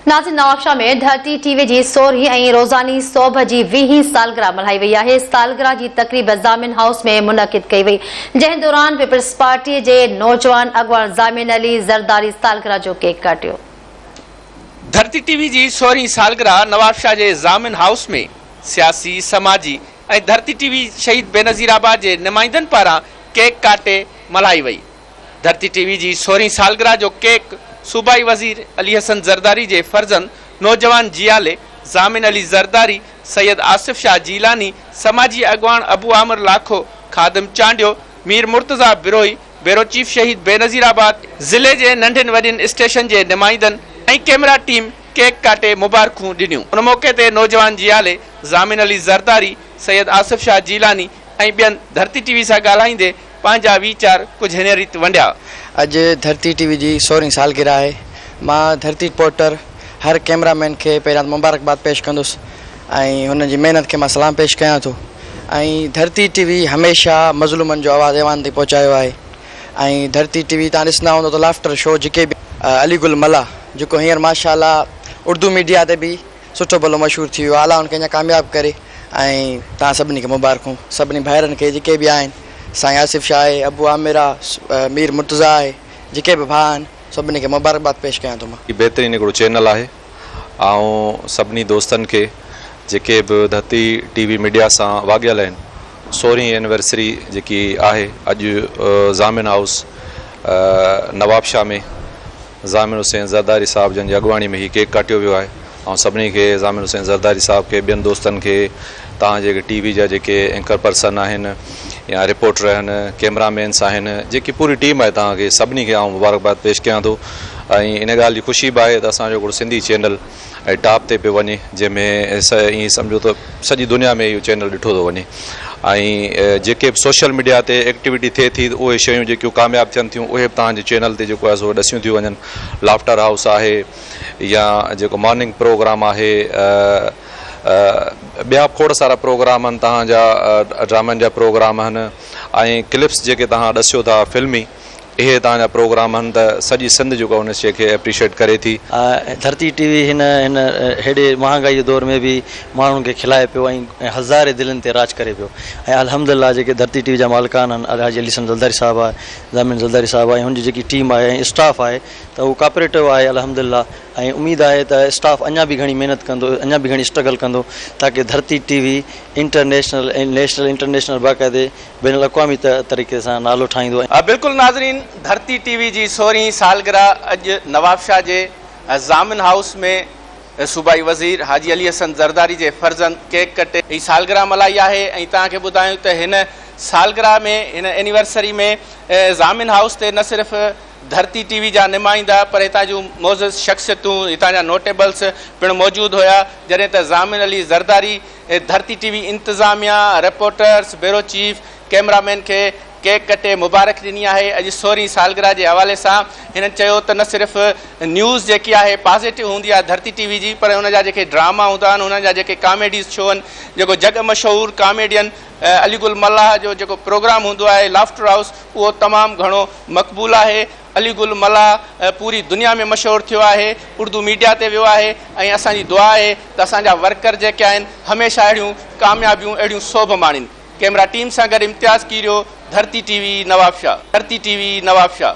ناظرين نوابشاهه ۾ ڍ ٽي ٽي وي جي سورهين ۽ روزاني سوڀ جي ويهين سالگرهه ملهائي وئي آهي سالگرهه جي تقريب ضامن هائوس ۾ منعقد ڪئي وئي جنهن دوران پيپلز پارٽي جي نوجوان اڳواڻ ضامن علي زرداري سالگرهه جو ڪيڪ ڪاٽيو ڌرتي ٽي وي جي سورهين سالگرهه نوابشاهه جي ضامن هائوس ۾ سياسي سماجي ۽ ڌرتي ٽي وي شهيد بينظير آباد جي نمائندن پاران ڪيڪ ڪاٽي ملهائي وئي. ڌرتي ٽي وي جي سورهين سالگرهه جو ڪيڪ صوبائي وزير علي حسن زرداري جي فرزند نوجوان جيالي ضامن علي زرداري، سيد آصف شاهه جيلاني، سماجي اڳواڻ ابو عامر لاکو، خادم چانڊيو، مير مرتضيٰ بروهي، بيورو چيف شهيد بينظير آباد، ضلعي جي ننڍين وڏين اسٽيشن جي نمائندن ۽ ڪيمرا ٽيم ڪيڪ ڪاٽي مبارڪون ڏنيون ان موقعي تي نوجوان جيالي ضامن علي زرداري، سيد آصف شاهه جيلاني ۽ ٻين ڌرتي ٽي وي سان ڳالهائيندي پنهنجا ويچار ڪجهه هن ريت ونڊيا. اڄ ڌرتي ٽي وي جي سورهين سالگرهه آهي. مان ڌرتي رپورٽر هر ڪيمرا مين کي پهريان ته مبارڪباد پيش ڪندس ۽ هنن جي محنت کي مان سلام پيش ڪيان ٿو ۽ ڌرتي ٽي وي هميشه مظلومن جو آواز ايوان تائين پهچايو آهي ۽ ڌرتي ٽي وي تان ڏسندا هوندو ته لافٽر شو جيڪي به علي گل ملاح جيڪو هينئر ماشاء الله اردو ميڊيا تي به سٺو ڀلو مشهور ٿي ويو آء الله هن کي اڃان ڪامياب ڪري ۽ توهان سڀني کي مبارڪون سڀني ڀائرن کي جيڪي به آهن سائين آصف شاهه آهي ابو عامر آ مير مرتضيٰ آهي جيڪي به ڀاء آهن سڀني کي مبارڪباد پيش ڪيان ٿو مان. هي بهترين هڪڙو چينل آهي آئون سڀني دوستن کي جيڪي به ڌرتي ٽي وي ميڊيا سان واڳيل آهن سورهين اينورسري جيڪي آهي اڄ ضامن هائوس نوابشاهه ۾ ضامن حسين زرداري صاحب جن جي اڳواڻي ۾ هي ڪيڪ ڪاٽيو ويو آهي آئون سڀني کي ضامن حسين زرداري صاحب کي ٻين دوستن کي توهان جي ٽي وي جا جيڪي اينڪر پرسن آهن يا رپورٽر آهن ڪيمرا مينس آهن جيڪي پوري ٽيم آهي توهان کي سڀني کي آئون مبارڪباد پيش ڪيان ٿو ۽ ان ڳالهه جي خوشي به آهي ته اسان جو هڪڙو سنڌي چينل ۽ ٽاپ تي پيو وڃي جنهن ۾ ائين سمجهو ته سڄي دنيا ۾ اهو چينل ڏٺو ٿو وڃي ۽ جيڪي به سوشل ميڊيا تي ايڪٽيوٽي ٿئي ٿي اهي شيون جيڪيون ڪامياب ٿين ٿيون اهي به تهنجي چينل تي جيڪو آهي سو ڏسيون ٿيون وڃن لافٽر هائوس آهي يا جيڪو مارننگ پروگرام آهي ٻيا به کوڙ سارا پروگرام آهن تهنجا ڊرامن جا پروگرام آهن ۽ ڪلپس جيڪي تهان ڏسيو ٿا فلمي اهي توهان جا پروگرام هن ته سڄي سنڌ جيڪو هن شي کي اپريشيٽ ڪري ٿي. ڌرتي ٽي وي هن هن هيڏي مهانگائي جي دور ۾ به ماڻهن کي کلائي پيو ۽ هزارين دلين تي راڄ ڪري پيو ۽ الحمد الله جيڪي ڌرتي ٽي وي جا مالڪان آهن الحاجي علي حسن زلداري صاحب آهي زامن زلداري صاحب آهي هن جي جيڪي ٽيم آهي ۽ اسٽاف آهي ته اهو ڪاپريٽو آهي الحمد الله ۽ اميد آهي ته اسٽاف اڃا به گهڻي محنت ڪندو اڃا به گهڻي اسٽرگل ڪندو تاڪي Dharti T V international ۽ national international باقاعدي بين الاقوامي طريقي سان نالو ٺاهيندو. بلڪل ناظرين ڌرتي ٽي وي جي سورهين سالگره اڄ نوابشاهه جي ضامن هائوس ۾ صوبائي وزير حاجي علي حسن زرداري جي فرزند ڪيڪ ڪٽي هي سالگره ملهائي آهي ۽ توهان کي ٻڌايون ته هن سالگره ۾ هن اينيورسري ۾ ضامن هائوس تي نه صرف ڌرتي ٽي وي جا نمائندا پر هتان جون معزز شخصيتون هتان جا نوٽيبلس پڻ موجود هيا جڏهن ته ضامن علي زرداري ڌرتي ٽي وي انتظاميا، reporters, bureau chief, cameraman کي ڪيڪ ڪٽي مبارڪ ڏني آهي اڄ سورهين سالگرهه جي حوالي سان هنن چيو ته نه صرف نيوز جيڪي آهي پازيٽو هوندي آهي ڌرتي ٽي وي جي پر ان جا جيڪي ڊراما هوندا آهن انهن جا جيڪي ڪاميڊيز شو آهن جيڪو جڳ مشهور ڪاميڊين علي گل ملاح جو جيڪو پروگرام هوندو آهي لافٽر هائوس اهو تمام گهڻو مقبول آهي علي گل ملاح پوري دنيا ۾ مشهور ٿيو آهي اردو ميڊيا تي ويو آهي ۽ اسان جي دعا آهي ته اسان جا ورڪر جيڪي آهن هميشه اهڙيون ڪاميابيون اهڙيون سوڀ ماڻين ڪئميرا ٽيم سان گڏ امتياز ڪيريو ڌرتي ٽي وي نوابشاھ ڌرتي ٽي وي نوابشاھ.